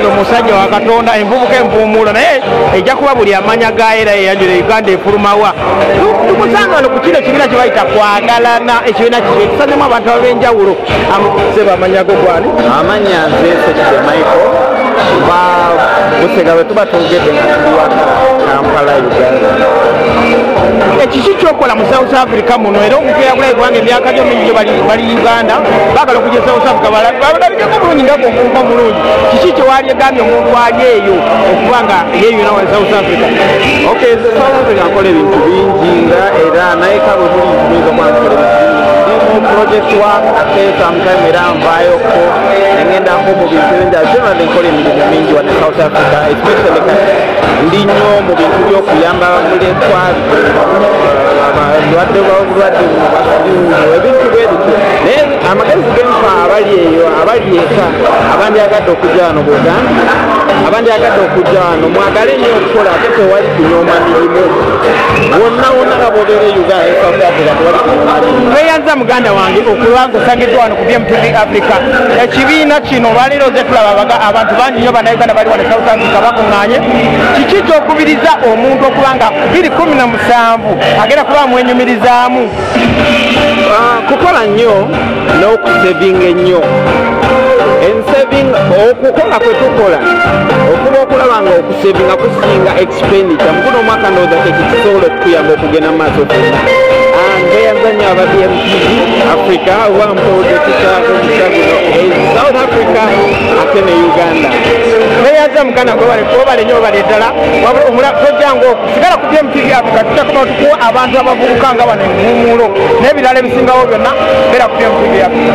omusajja wa katonda envubuka envuumuula naye ejja kuba buli amanya gayo era yeyanjula uganda efulumawa tukusangano ku kino ekibiina kyebayita kwagalana ekibiina kiki ekisazemu abantu abenjawulo sebamanyagogwani amanya nze sekide michael busega bwe tuba twogedde nga tuli waka kampala uganda ekiki kyokola mu south africa muno era omuntu eyakulayo kubanga emyaka gyo mingi bali uganda bagala okuja south africa balabikeko bulungi nga gwokuuka omulungi kiki kyewali egambye omuntu ali eyo okuba nga yeyuna wa south africa ok south africa nkola ebintu bingi nga era naye kabo buli nkumiza omwana kola ebintu bingi ndi mu project work ate sometime era nvayoko nengenda nko mu bintu bingi ate nabadde nkola emirimu mingi wane south africa especially kati ndi nnyo mu bintu by'okuyamba mulekwa balwadde balwadde mubasiuno ebintu bwebityo naye amagezi genfa abali eyo abali eka abandyagadde okujja wano buganda abandyagadde okujja wano mwagale nyo okukola ate tewali kunyoma mirimu wonna wonna nga bobeera e uganda esafrika tewali kunyoma mirimu tweyanza muganda wange okulwanga osangiddwa wano BMTV Africa ekibiina kino olwaleero oze tulaba baga abantu bangi nnyo bannayuganda bali wano South Africa bakuŋŋaanye kiki ky'okubiriza omuntu okuba nga biri kumi na musanvu agenda kuba amwenyumirizaamu ah, kukola nnyo n'okusevinga ennyo ensevinga okukola kwe tukola okuba okulaba nga sevinga kusinga expenditure mukuno omwaka ndowooza kyekikisobola okukuyamba okugenda mu maaso fena ngeyazanya aba bmtv africa oba mpooza ekisaako musaguno south africa ate ne uganda neyaza muganda gwebale kubale nyo obale ddala wabula tojanga oku sigala ku bmtv africa tutakoma tukuwa abantu abavubuka nga bano enguumuulo n'ebirala ebisingawo byonna beera ku bmtv africa